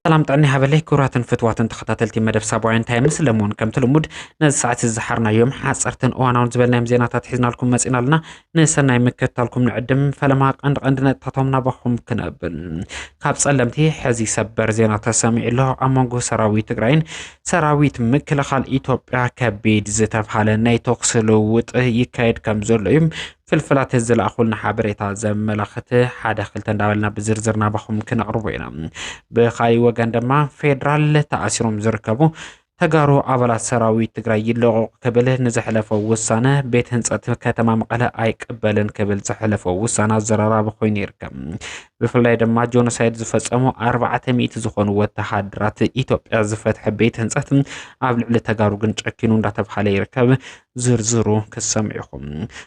ሰላም ጥዕና ይሃበለይ ክቡራትን ፍትዋትን ተኸታተልቲ መደብ ሳባውያን ታይምስ ለምውን ከምቲ ልሙድ ነዚ ሰዓት ዝሓርናዮም ሓፀርትን እዋናውን ዝበልናዮም ዜናታት ሒዝናልኩም መፂና ኣለና ንሰናይ ምክትታልኩም ንዕድም ፈለማ ቀንዲ ቀንዲ ነጥታቶም ናባኹም ክነብል ካብ ጸለምቲ ሕዚ ሰበር ዜና ተሰሚዑ ኣሎ። ኣብ መንጎ ሰራዊት ትግራይን ሰራዊት ምክልኻል ኢትዮጵያ ከቢድ ዝተብሃለ ናይ ተኩሲ ልውውጥ ይካየድ ከም ዘሎ እዩ ፍልፍላት ዝለኣኹልና ሓበሬታ ዘመላኽት ሓደ ክልተ እንዳበልና ብዝርዝር ናባኹም ክነቕርቦ ኢና። ብኻሊእ ወገን ድማ ፌዴራል ተኣሲሮም ዝርከቡ ተጋሩ ኣባላት ሰራዊት ትግራይ ይለቐቑ ክብል ንዘሕለፎ ውሳነ ቤት ህንፀት ከተማ መቐለ ኣይቅበልን ክብል ዘሕለፎ ውሳነ ኣዘራራቢ ኮይኑ ይርከብ። ብፍላይ ድማ ጆኖሳይድ ዝፈፀሙ ኣርባዕተ ሚእቲ ዝኾኑ ወተሃደራት ኢትዮጵያ ዝፈትሐ ቤት ህንፀት ኣብ ልዕሊ ተጋሩ ግን ጨኪኑ እንዳተብሃለ ይርከብ። ዝርዝሩ ክሰምዑ ኢኹም።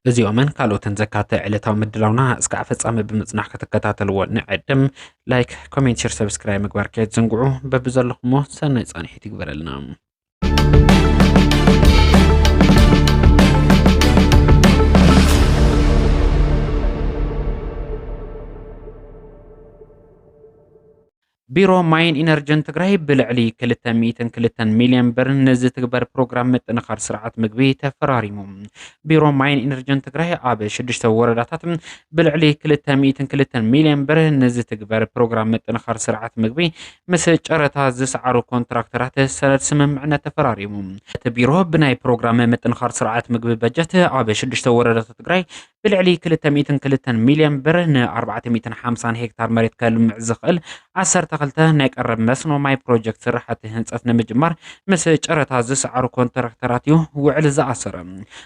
እዚኦምን ካልኦትን ዘካተ ዕለታዊ ምድላውና እስካዕ ፍጻሜ ብምጽናሕ ክትከታተልዎ ንዕድም። ላይክ ኮሜንት ሸር ሰብስክራይብ ምግባር ከየትዘንግዑ በብዘለኹሞ ሰናይ ፃንሒት ይግበረልና ቢሮ ማይን ኢነርጅን ትግራይ ብልዕሊ 202 ሚሊዮን ብር ንዝትግበር ፕሮግራም ምጥንኻር ስርዓት ምግቢ ተፈራሪሙ። ቢሮ ማይን ኢነርጅን ትግራይ ኣብ ሽዱሽተ ወረዳታት ብልዕሊ ክልተ ሚእትን ክልተን ሚልዮን ብር ንዝትግበር ፕሮግራም ምጥንኻር ስርዓት ምግቢ ምስ ጨረታ ዝሰዓሩ ኮንትራክተራት ሰነድ ስምምዕነት ተፈራሪሙ። እቲ ቢሮ ብናይ ፕሮግራም ምጥንኻር ስርዓት ምግቢ በጀት ኣብ ሽዱሽተ ወረዳታት ትግራይ ብልዕሊ ክልተ ሚእትን ክልተን ሚልዮን ብር ንኣርባዕተ ሚእትን ሓምሳን ሄክታር መሬት ከልምዕ ዝኽእል ዓሰርተ ክልተ ናይ ቀረብ መስኖ ማይ ፕሮጀክት ስራሕቲ ህንፀት ንምጅማር ምስ ጨረታ ዝሰዓሩ ኮንትራክተራት እዩ ውዕል ዝኣሰረ።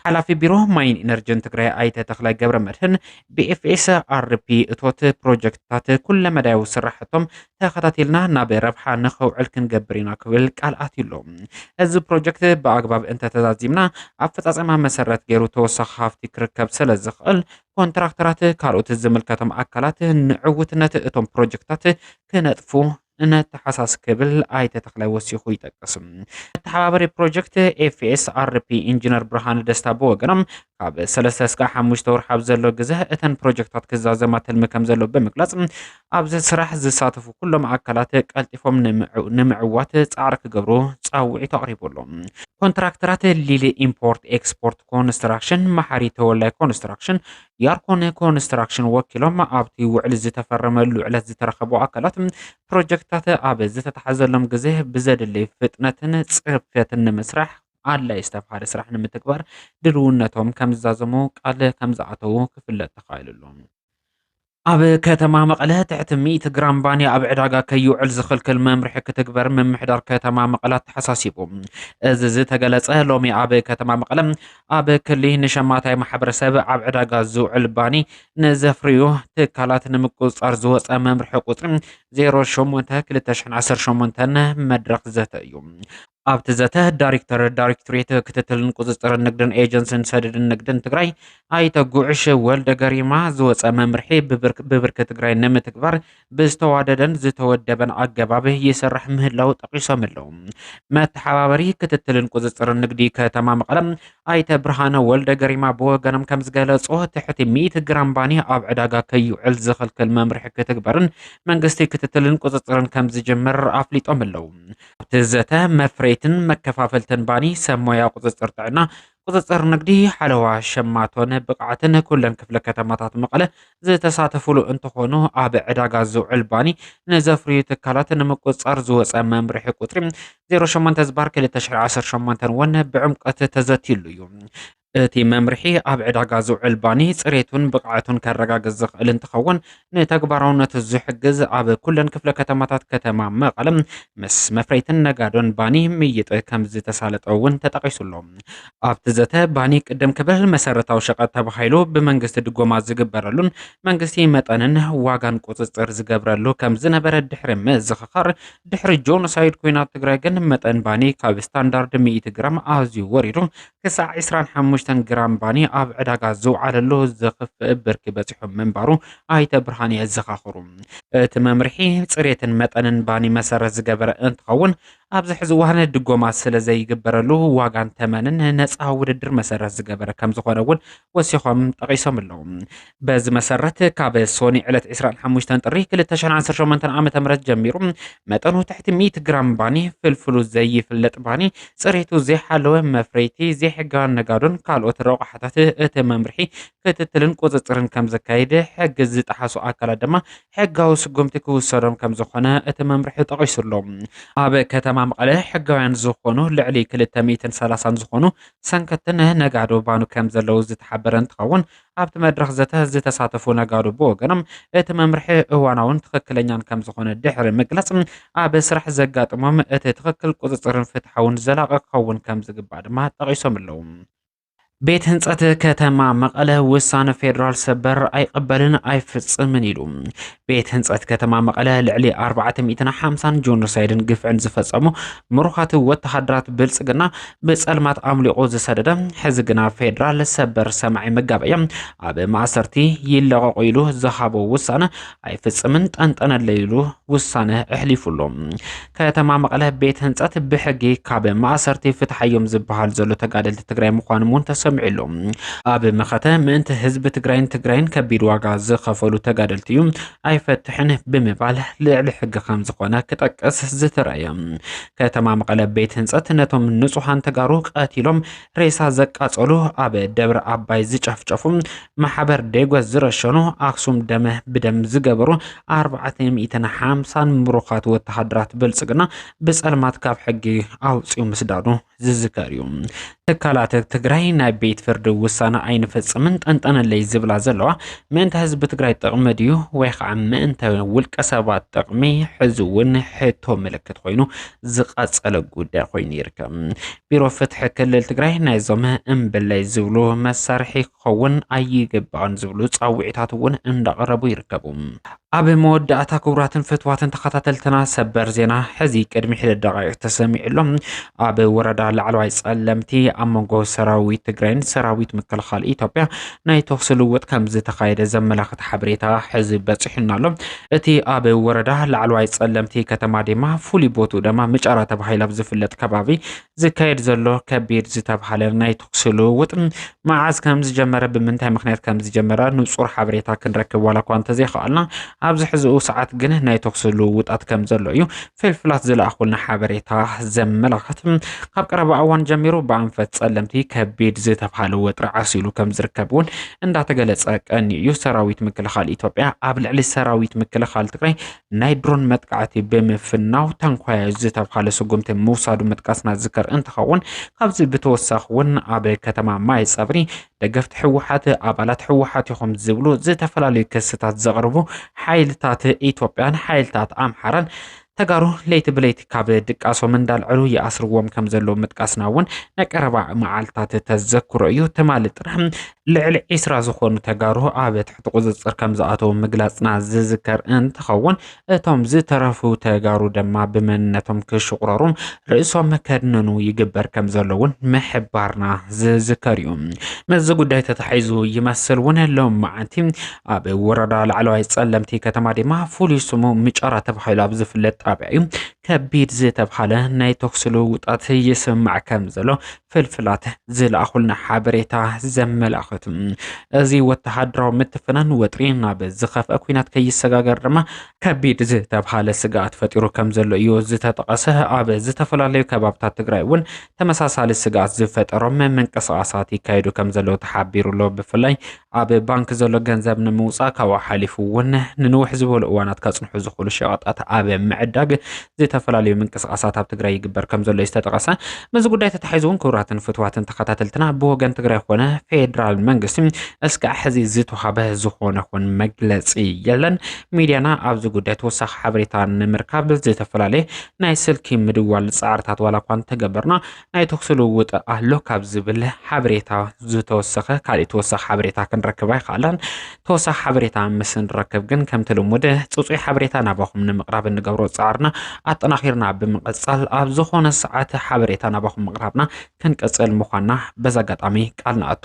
ሓላፊ ቢሮ ማይን ኢነርጅን ትግራይ ኣይተ ተኽላይ ገብረ መድህን ብኤፍኤስ ኣርፒ እቶት ፕሮጀክትታት ኩለመዳያዊ ስራሕቶም ተኸታቲልና ናብ ረብሓ ንኸውዕል ክንገብር ኢና ክብል ቃል ኣትዩ ኣሎ። እዚ ፕሮጀክት ብኣግባብ እንተተዛዚምና ኣፈፃፀማ መሰረት ገይሩ ተወሳኺ ሃፍቲ ክርከብ ስለ ዝኽእል ኮንትራክተራት ካልኦት ዝምልከቶም ኣካላት ንዕውትነት እቶም ፕሮጀክታት ክነጥፉ ነተሓሳስ ክብል ኣይተ ተኽላይ ወሲኹ ይጠቅስ። መተሓባበሪ ፕሮጀክት ኤፍኤስኣርፒ ኢንጂነር ብርሃነ ደስታ ብወገኖም ካብ ሰለስተ እስካዕ ሓሙሽተ ወርሒ ኣብ ዘሎ ግዘ እተን ፕሮጀክታት ክዛዘማ ትልሚ ከም ዘለዎ ብምግላፅ ኣብዚ ስራሕ ዝሳተፉ ኩሎም ኣካላት ቀልጢፎም ንምዕዋት ፃዕሪ ክገብሩ ፃውዒት ኣቕሪቡ ኣሎ። ኮንትራክተራት ሊሊ ኢምፖርት ኤክስፖርት ኮንስትራክሽን፣ መሓሪ ተወላይ ኮንስትራክሽን፣ ያርኮን ኮንስትራክሽን ወኪሎም ኣብቲ ውዕሊ ዝተፈረመሉ ዕለት ዝተረኸቡ ኣካላት ፕሮጀክትታት ኣብ ዝተተሓዘሎም ግዜ ብዘድልይ ፍጥነትን ፅርፍትን ንምስራሕ ኣድላይ ዝተብሃለ ስራሕ ንምትግባር ድልውነቶም ከም ዝዛዘሙ ቃል ከም ዝኣተዉ ክፍለጥ ተኻኢሉሉ። ኣብ ከተማ መቐለ ትሕቲ ሚእቲ ግራም ባኒ ኣብ ዕዳጋ ከይውዕል ዝኽልክል መምርሒ ክትግበር ምምሕዳር ከተማ መቐለ ኣተሓሳሲቡ። እዚ ዝተገለጸ ሎሚ ኣብ ከተማ መቐለ ኣብ ክሊ ንሸማታይ ማሕበረሰብ ኣብ ዕዳጋ ዝውዕል ባኒ ንዘፍርዩ ትካላት ንምቁፅፃር ዝወፀ መምርሒ ቁፅሪ 08-2018 መድረኽ ዘተ እዩ። ኣብቲ ዘተ ዳይሬክተር ዳይሬክቶሬት ክትትልን ቁፅፅርን ንግድን ኤጀንሲን ሰደድን ንግድን ትግራይ ኣይተ ጉዕሽ ወልደ ገሪማ ዝወፀ መምርሒ ብብርኪ ትግራይ ንምትግባር ብዝተዋደደን ዝተወደበን ኣገባብ ይስራሕ ምህላው ጠቒሶም ኣለው። መተሓባበሪ ክትትልን ቁፅፅርን ንግዲ ከተማ መቐለ ኣይተ ብርሃነ ወልደ ገሪማ ብወገኖም ከም ዝገለጾ ትሕቲ ሚእቲ ግራም ባኒ ኣብ ዕዳጋ ከይውዕል ዝኽልክል መምርሒ ክትግበርን መንግስቲ ክትትልን ቁፅፅርን ከም ዝጅምር ኣፍሊጦም ኣለው። ኣብቲ ዘተ መፍረይትን መከፋፈልትን ባኒ፣ ሰብ ሞያ ቁፅፅር ጥዕና፣ ቁፅፅር ንግዲ ሓለዋ ሸማቶን ብቕዓትን ኩለን ክፍለ ከተማታት መቐለ ዝተሳተፍሉ እንትኾኑ ኣብ ዕዳጋ ዝውዕል ባኒ ንዘፍርዩ ትካላት ንምቁፅፃር ዝወፀ መምርሒ ቁፅሪ 08 ዝባር 2018 እውን ብዕምቀት ተዘትይሉ እዩ። እቲ መምርሒ ኣብ ዕዳጋ ዝውዕል ባኒ ፅሬቱን ብቕዓቱን ከረጋግፅ ዝኽእል እንትኸውን ንተግባራውነቱ ዝሕግዝ ኣብ ኩለን ክፍለ ከተማታት ከተማ መቐለ ምስ መፍረይትን ነጋዶን ባኒ ምይጥ ከምዝተሳለጠ እውን ተጠቒሱ ኣሎ። ኣብቲ ዘተ ባኒ ቅድም ክብል መሰረታዊ ሸቐጥ ተባሂሉ ብመንግስቲ ድጎማ ዝግበረሉን መንግስቲ መጠንን ዋጋን ቁፅፅር ዝገብረሉ ከምዝነበረ ድሕሪ ምዝኽኻር ድሕሪ ጆኖሳይድ ኲናት ትግራይ ግን መጠን ባኒ ካብ ስታንዳርድ ሚእቲ ግራም ኣዝዩ ወሪዱ ክሳዕ ዕስራን ሓሙሽተን ግራም ባኒ ኣብ ዕዳጋ ዝውዓለሉ ዝኽፍእ ብርኪ በፂሑ ምንባሩ ኣይተ ብርሃነ የዘኻኽሩ። እቲ መምርሒ ፅሬትን መጠንን ባኒ መሰረት ዝገበረ እንትኸውን፣ ኣብዚ ሕዚ እዋን ድጎማ ስለዘይግበረሉ ዋጋን ተመንን ነፃ ውድድር መሰረት ዝገበረ ከምዝኾነ እውን ወሲኾም ጠቒሶም ኣለዉ። በዚ መሰረት ካብ ሶኒ ዕለት ዕስራን ሓሙሽተን ጥሪ ክልተ ሽሕን ዓሰርተ ሸሞንተን ዓመተ ምህረት ጀሚሩ መጠኑ ትሕቲ ሚእቲ ግራም ባኒ፣ ፍልፍሉ ዘይፍለጥ ባኒ፣ ጽሬቱ ዘይሓለወ መፍረይቲ፣ ዘይሕጋውያን ነጋዶን ካልኦት ረቑሓታት እቲ መምርሒ ክትትልን ቁጽጽርን ከም ዘካይድ፣ ሕጊ ዝጠሓሱ ኣካላት ድማ ሕጋዊ ስጉምቲ ክውሰዶም ከም ዝኾነ እቲ መምርሒ ጠቒሱ ኣሎ። ኣብ ከተማ መቐለ ሕጋውያን ዝኾኑ ልዕሊ ክልተ ሚእትን ሰላሳን ዝኾኑ ሰንከትን ነጋዶ ባኑ ከምዘለዉ ዝተሓበረ እንትኸውን፣ ኣብቲ መድረኽ ዘተ ዝተሳተፉ ነጋዶ ብወገኖም እቲ መምርሒ እዋናውን ትኽክለኛን ከምዝኾነ ድሕሪ ምግላፅ፣ ኣብ ስራሕ ዘጋጥሞም እቲ ትኽክል፣ ቁፅፅርን ፍትሓውን ዘላቒ ክኸውን ከምዝግባእ ድማ ጠቒሶም'ለው። ቤት ህንፀት ከተማ መቐለ ውሳነ ፌዴራል ሰበር ኣይቕበልን ኣይፍፅምን ኢሉ። ቤት ህንፀት ከተማ መቐለ ልዕሊ ኣርባዕተ ሚእትን ሓምሳን ጆኖሳይድን ግፍዕን ዝፈፀሙ ምሩኻት ወተሃደራት ብልፅግና ብፀልማት ኣምሊቑ ዝሰደደ ሕዚ ግና ፌዴራል ሰበር ሰማዒ መጋበያ ኣብ ማእሰርቲ ይለቐቑ ኢሉ ዝሃቦ ውሳነ ኣይፍፅምን ጠንጠነለይ ኢሉ ውሳነ ኣሕሊፉ ኣሎ። ከተማ መቐለ ቤት ህንፀት ብሕጊ ካብ ማእሰርቲ ፍትሓዮም ዝበሃል ዘሎ ተጋደልቲ ትግራይ ምዃኖም እውን ተሰሚዑ ኣሎ። ኣብ መኸተ ምእንቲ ህዝቢ ትግራይን ትግራይን ከቢድ ዋጋ ዝኸፈሉ ተጋደልቲ እዩ ኣይፈትሕን ብምባል ልዕሊ ሕጊ ከም ዝኾነ ክጠቅስ ዝተረእየ ከተማ መቐለ ቤት ህንፀት ነቶም ንጹሃን ተጋሩ ቀቲሎም ሬሳ ዘቃጸሉ ኣብ ደብረ ኣባይ ዝጨፍጨፉ ማሕበር ዴጎስ ዝረሸኑ ኣክሱም ደመ ብደም ዝገበሩ ኣርባዕተ ሚእትን ሓምሳን ምሩኻት ወተሃደራት ብልጽግና ብጸልማት ካብ ሕጊ ኣውፅኡ ምስዳዱ ዝዝከር እዩ ትካላት ትግራይ ናይ ቤት ፍርዲ ውሳነ ኣይንፈጽምን ጠንጠነለይ ዝብላ ዘለዋ ምእንተ ህዝቢ ትግራይ ጥቕሚ ድዩ ወይ ከዓ ምእንተ ውልቀ ሰባት ጥቕሚ ሕዚ እውን ሕቶ ምልክት ኮይኑ ዝቐፀለ ጉዳይ ኮይኑ ይርከብ ቢሮ ፍትሒ ክልል ትግራይ ናይዞም እምብለይ ዝብሉ መሳርሒ ክኸውን ኣይግባእን ዝብሉ ፃውዒታት እውን እንዳቐረቡ ይርከቡ። ኣብ መወዳእታ ክቡራትን ፍትዋትን ተኸታተልትና ሰበር ዜና ሕዚ ቅድሚ ሒደት ደቃይቅ ተሰሚዑ ኣሎ። ኣብ ወረዳ ላዕለዋይ ጸለምቲ ኣብ መንጎ ሰራዊት ትግራይን ሰራዊት ምክልኻል ኢትዮጵያ ናይ ተኹሲ ልውውጥ ከም ዝተኻየደ ዘመላኽት ሓበሬታ ሕዚ በፂሑና ኣሎ። እቲ ኣብ ወረዳ ላዕለዋይ ጸለምቲ ከተማ ዲማ ፍሉይ ቦትኡ ደማ ምጫራ ተባሂሉ ኣብ ዝፍለጥ ከባቢ ዝካየድ ዘሎ ከቢድ ዝተብሃለ ናይ ተኩሲ ልውውጥ መዓዝ ከም ዝጀመረ ብምንታይ ምክንያት ከም ዝጀመረ ንጹር ሓበሬታ ክንረክብ ዋላ እኳ እንተዘይኸኣልና ኣብዚ ሕዚኡ ሰዓት ግን ናይ ተኩሲ ልውውጣት ከም ዘሎ እዩ ፍልፍላት ዝለኣኹልና ሓበሬታ ዘመላኽት ካብ ቀረባ እዋን ጀሚሩ ብኣንፈት ጸለምቲ ከቢድ ዝተብሃለ ወጥሪ ዓሲሉ ከም ዝርከብ እውን እንዳተገለጸ ቀኒ እዩ። ሰራዊት ምክልኻል ኢትዮጵያ ኣብ ልዕሊ ሰራዊት ምክልኻል ትግራይ ናይ ድሮን መጥቃዕቲ ብምፍናው ታንኳያ ዝተብሃለ ስጉምቲ ምውሳዱ ምጥቃስና ዝከር እንትኸውን ካብዚ ብተወሳኺ እውን ኣብ ከተማ ማይ ጸብሪ ደገፍቲ ህወሓት ኣባላት ህወሓት ኢኹም ዝብሉ ዝተፈላለዩ ክስታት ዘቕርቡ ሓይልታት ኢትዮጵያን ሓይልታት ኣምሓራን ተጋሩ ለይቲ ብለይቲ ካብ ድቃሶም እንዳልዐሉ ይኣስርዎም ከም ዘለዉ ምጥቃስና እውን ናይ ቀረባ መዓልትታት ተዘክሮ እዩ ትማሊ ጥራሕ ልዕሊ ዒስራ ዝኾኑ ተጋሩ ኣብ ትሕቲ ቁፅፅር ከም ዝኣተዉ ምግላፅና ዝዝከር እንትኸውን እቶም ዝተረፉ ተጋሩ ደማ ብመንነቶም ክሽቑረሩን ርእሶም ከድንኑ ይግበር ከም ዘሎ እውን ምሕባርና ዝዝከር እዩ። ምስዚ ጉዳይ ተታሒዙ ይመስል እውን ሎም መዓንቲ ኣብ ወረዳ ላዕለዋይ ጸለምቲ ከተማ ድማ ፍሉይ ስሙ ምጨራ ተባሂሉ ኣብ ዝፍለጥ ጣብያ እዩ ከቢድ ዝተብሃለ ናይ ተኩሲ ልውውጣት ይስማዕ ከም ዘሎ ፍልፍላት ዝለኣኹልና ሓበሬታ ዘመላኽት እዚ ወተሃደራዊ ምትፍናን ወጥሪ ናብ ዝኸፍአ ኩናት ከይሰጋገር ድማ ከቢድ ዝተብሃለ ስግኣት ፈጢሩ ከም ዘሎ እዩ ዝተጠቐሰ። ኣብ ዝተፈላለዩ ከባብታት ትግራይ እውን ተመሳሳሊ ስግኣት ዝፈጠሮም ምንቅስቓሳት ይካየዱ ከም ዘለዉ ተሓቢሩ ኣሎ። ብፍላይ ኣብ ባንክ ዘሎ ገንዘብ ንምውፃእ ካብኡ ሓሊፉ እውን ንንውሕ ዝበሉ እዋናት ከፅንሑ ዝኽእሉ ሸቐጣት ኣብ ምዕዳግ ዝተፈላለዩ ምንቅስቓሳት ኣብ ትግራይ ይግበር ከም ዘሎ እዩ ዝተጠቐሰ። ምስዚ ጉዳይ ተታሒዙ እውን ክቡራትን ፍትዋትን ተኸታተልትና ብወገን ትግራይ ኮነ ፌዴራል መንግስቲ እስካዕ ሕዚ ዝተዋህበ ዝኾነ ኹን መግለፂ የለን። ሚዲያና ኣብዚ ጉዳይ ተወሳኺ ሓበሬታ ንምርካብ ዝተፈላለየ ናይ ስልኪ ምድዋል ፃዕርታት ዋላ እኳ እንተገበርና ናይ ተኹሲ ልውውጥ ኣሎ ካብ ዝብል ሓበሬታ ዝተወሰኸ ካሊእ ተወሳኺ ሓበሬታ ክንረክብ ኣይከኣልናን። ተወሳኺ ሓበሬታ ምስ ንረክብ ግን ከምቲ ልሙድ ፅፁይ ሓበሬታ ናባኹም ንምቕራብ እንገብሮ ፃዕርና ኣጠናኺርና ብምቕፃል ኣብ ዝኾነ ሰዓት ሓበሬታ ናባኹም ምቕራብና ክንቅፅል ምዃንና በዚ ኣጋጣሚ ቃል ንኣቱ።